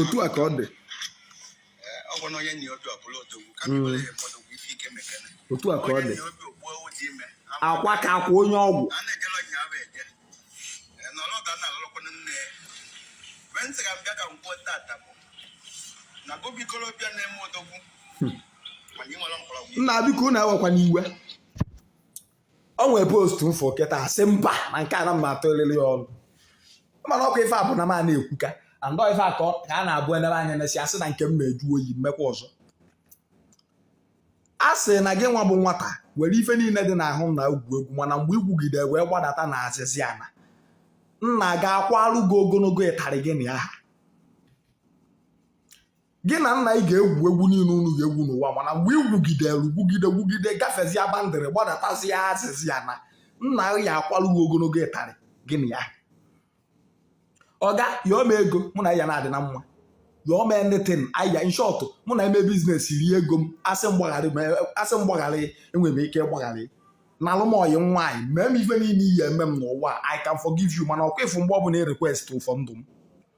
otu a ka ọ dị otu a ka ọ dị akwa ka akwa onye ọgwụ nna biko unu ewekwana iwe o nwere post m fụ kịta a sị mba na nke a na m ma-atụlịlị ya ọnụ mana ọkwa ife a bụ na m a na-ekwuka andọ ife a ka a na-abụ elebe anya na si asị na nke m mee juo oyi m mekwa ọzọ a sị na gị nwa bụ nwata were ife niile dị n'ahụ nna ị gwuo egwu mana mgbe i gwugide wee gbadata na azịzị ana nna ga-akwalụ gị ogologo ịtarị gị n'ahụ gị na nna ị ga-egwu egwu niile unu ga-egwu n'ụwa mana mgbe ị gwugidere gwugide gwugide gafezie boundary gbadatazia azịzị ana nna ya akwalụ gị ogologo ịtarị gị na ya ọga yọọ m ego mụ na ya na-adị na mma yọọ m anything aya in short mụ na-eme business rie ego m a sị m gbagharị a sị m gbagharị enwere m ike ịgbagharị nalụ m ọyị nwaanyị mee m ife niile ị ya-eme m n'ụwa I can forgive you mana ọkwa ịfụ mgbe ọ bụla ị request for ndụ m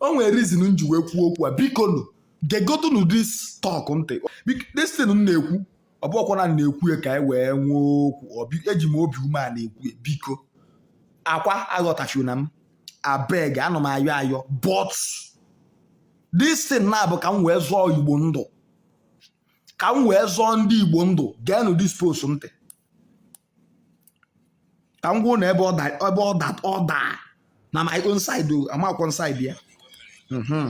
o nwere reason m ji wee kwuo okwu a biko nụ gegodunu this talk ntị Bik- this thing m na-ekwu ọ bụkwa na m na-ekwu ya ka anyị wee nwee okwu Ọ bi- eji m obi umeana ekwu ya biko akwa aghọtafiena m abeg ana m ayọ ayọ but this thing na-abụ ka m wee zọọ Igbo ndụ ka m wee zọọ ndị Igbo ndụ geenụ this post ntị ka m gwa unu ebe ọ daa na my own side o amakwọ m side ya mhm.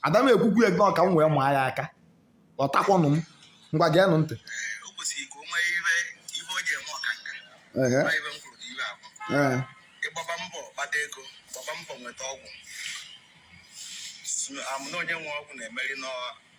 ada m ekwukwu ya gị ka m wee maa ya aka ọ takwanụ m ngwa geenụ ntị ị gbaba mbọ kpata ego gbaba mbọ nweta ọgwụ na onye nwe ọgwụ na-emeri n'ọha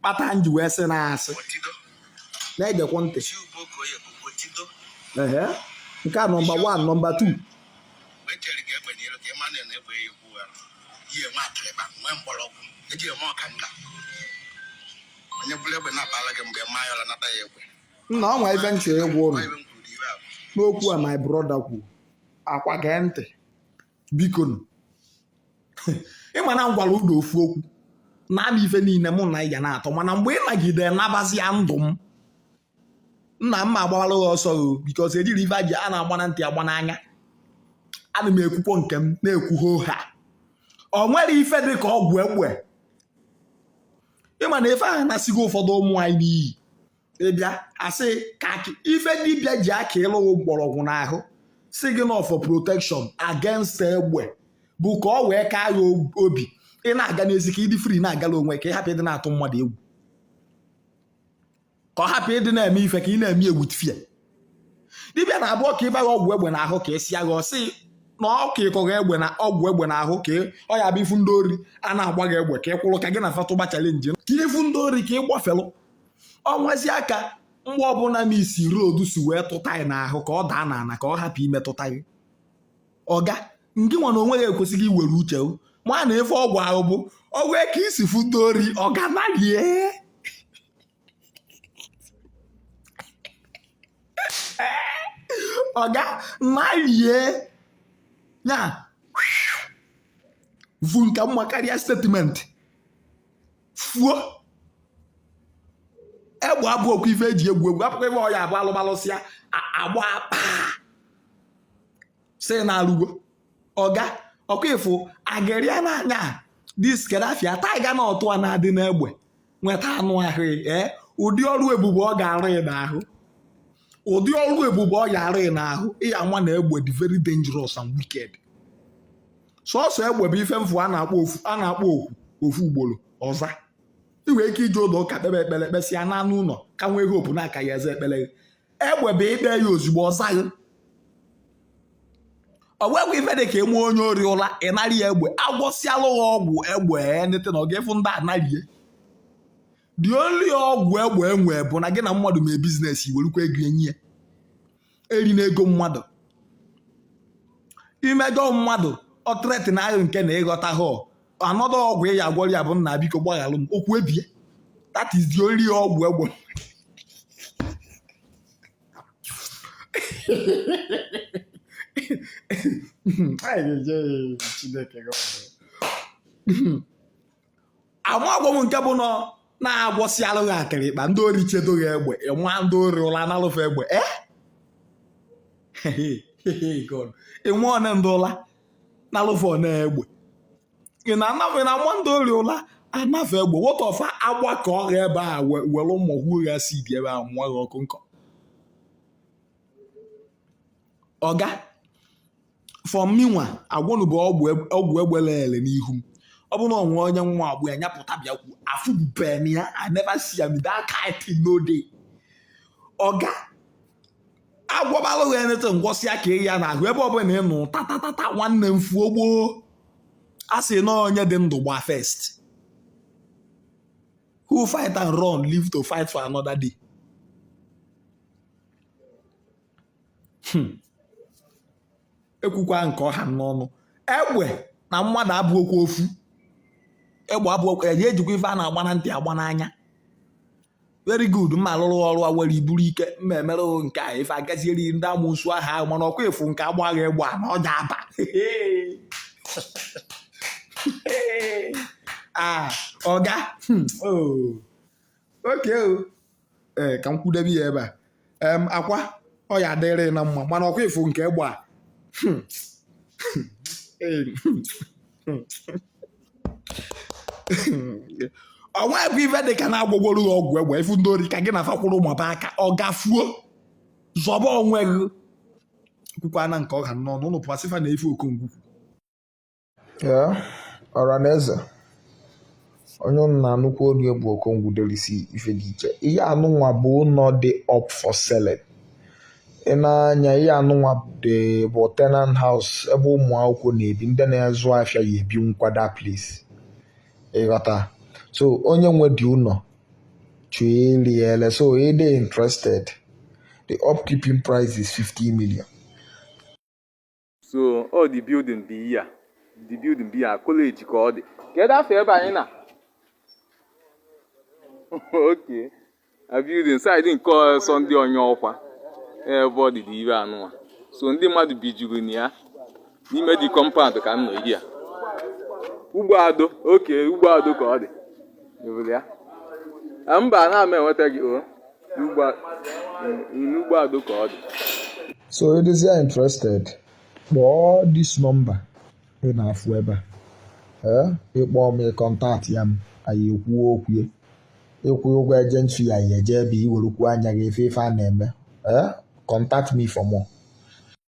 kpata m ji wee sị na asị na-egekwa ntị ehe nke a nọmba 1 nọmba 2 nna o nwe ife m chọ ịgwa unu n'okwu a my brother kwuru akwa gee ntị biko nụ ịma na m gwara unu ofu okwu na-abịa ife niile mụ na ị ga na-atọ mana mgbe ị nagide nabazia ndụ m nna m ma-agbara gị ọsọ o because ejirọ ife eji a na-agba na ntị agba n'anya ana m ekwukwa nke m na-ekwu hoo ha o nwere ife dị ka ọgwụ egbe ịma na ife ahụ anasịgo ụfọdụ ụmụ anyị n'iyi ịbịa asị ka ife dibịa ji akalụ ghị mgbọrọgwụ n'ahụ sị gị na ọ for protection against egbe bụ ka ọ wee kaa ya obi ị na-aga n'ezi ka ị dị free na-agala onwe ka ị hapụ ịdị na-atụ mmadụ egwu ka ọ hapụ ịdị na-eme ife ka ị na-eme egwu tifia dibịa na-abụ ọka ịba gị ọgwụ egbe n'ahụ ka esi agha ọsị na ọka ịkọghị egbe na ọgwụ egbe n'ahụ ka ọ ya bụ ị fụ ndị ori a na-agba gị egbe ka ị kwụrụ ka gị na fa tụba challenge ka ị fụ ndị ori ka ị gbafelụ ọ nwezia ka mgbọ ọbụla miss road si wee tụta gị n'ahụ ka ọ daa n'ala ka ọ hapụ imetụta gị ọga ngị nwa na onwe ghị ekwesịghị iwere uche ma na ife ọgwụ ahụ bụ ọgwụ ka isi fụ ndị ori ọga nalie ọga nalie ya bụ nka mma karịa statement fuo egbe abụhọkwa ife eji egwu egwu hapụkwa ife ọ ya-abụ alụmalụsịa a gbaa kpaa sị na a lụgo ọga ọkwa ị fụ ageria n'anya this kedafia tiger na ọtụ a na-adị n'egbe meta anụ ahụ ee eh? ụdị ọrụ ebube ọ ga-arụ ị n'ahụ ụdị ọrụ ebube ọ ga-arụ ị n'ahụ ị ya-ama na egbe dị very dangerous and wicked sọsọ egbe bụ ife m fụ a na-akpọ oku ofu ugboro ọ za ị nwere ike ije ụlọ ụka kpebe ekpere kpesịa naa n'ụlọ ka nwee hope na a ka ya-aza ekpere gị egbe bụ i kpe ya ozugbo ọ za gị o nwekwa ife dị ka ịma onye ori ụla ị narị ya egbe a gwọsịalụ ghị ọgwụ egbe enete na ọga fụ ndị a narie the only ọgwụ egbe e nwe bụ na gị na mmadụ mee business i werekwa ego nye ya erina ego mmadụ i mejọ mmadụ ọ threaten ghị nke na ịghọta ha anọdụ ọgwụ ị ya-agwọrọ ya bụ nna biko gbaghalụ m okwu ebie that is the only ọgwụ egbe ama gwa m nke bụ na a gwọsịalụ ghị akịrịkpa ndị ori chedo ghị egbe ị ma ndị ori ụla analụ fa egbe e ị ma one ndị ụla nalụ fa one egbe ị na-ana fa na-ama ndị ori ụla ana fa egbe wota ọfa agbakọ ghị ebe a were ụmụ hụ gha si dị ebe a mụọ ghị ọkụ nkọ ọga fọm minwa agwọnụ bụ ọgwụ eg- ọgwụ egbe lele n'ihu m ọ bụrụ na o nwe onye nwe ọgwụ ya nya pụta bịa kwu afụbube m ya I never see am that kind thing no dey ọga agwọbalụ gị na ntị ngwọsịa ka ị ya n'ahụ ebe ọbụla ị nụ tatatata nwanne m fuo gboo a sị na onye dị ndụ gba first who fight and run live to fight for another day hmm. ekwukwa nke ọha n'ọnụ egbe na mmadụ abụọkwa ofu egbe abụọ ya ejikwa ife a na-agba na ntị agba n'anya very good mma alụrụ ọrụ a were iburu ike mma emere nke a ife agazieri ndị amusu aha ahụ mana ọkwa ịfụ nke agbaghị egbe a na ọ ga aba ah, ọga hmm, oh. okay o ee ka m kwudebe ya ebe a em akwa ọ ya adịrị na mma mana ọkwa ịfụ nke egbe a Hmm. Ee, hmm. o nwebe ife dị ka na agwọgoro gị ọgwụ egbe ị fụ ndị ori ka gị na fa kwụrụ maba aka ọga fuo zọba onwe gị kwukwana nke ọha n'ọnụ ụnụ pụasịfa na ife Okongwu Ee, ọra na eze onye ụnụ na-anụkwa olu ya bụ Okongwu delisi ife dị iche ihe anụnwa bụ ụlọ dị up for selling ị na-anya ihe anụnwa dị bụ tenant house ebe ụmụ akwụkwọ na-ebi ndị na-azụ afịa ya ebi nkwada place ị ghọta so onye nwe dị ụlọ chọọ ile ya ele so ị dị interested the upkeeping price is 50 million so ọ the building bụ ihe a the building bụ ihe a college ka ọ dị kedu afa ebe anyị nọ okay a building side nke ọzọ ndị onye ọkwa ebe ọ dị dị ebe anụwa so ndị mmadụ bijuru na ya n'ime the compound ka m nọ here Ugbo Ado okay Ugbo Ado ka ọ dị Ebule ya. Ah, mba ana m enweta gị o n'Ugbo Ado ka ọ dị so ị dịzi ya interested kpọọ this number ị na-afụ ebe a ị kpọọ m ị contactịa m anyị ekwuo okwu ya ị kwụọ ụgwọ agent fee anyị eje ebe i werekwuo anya gị fụ ife a na-eme contact me for more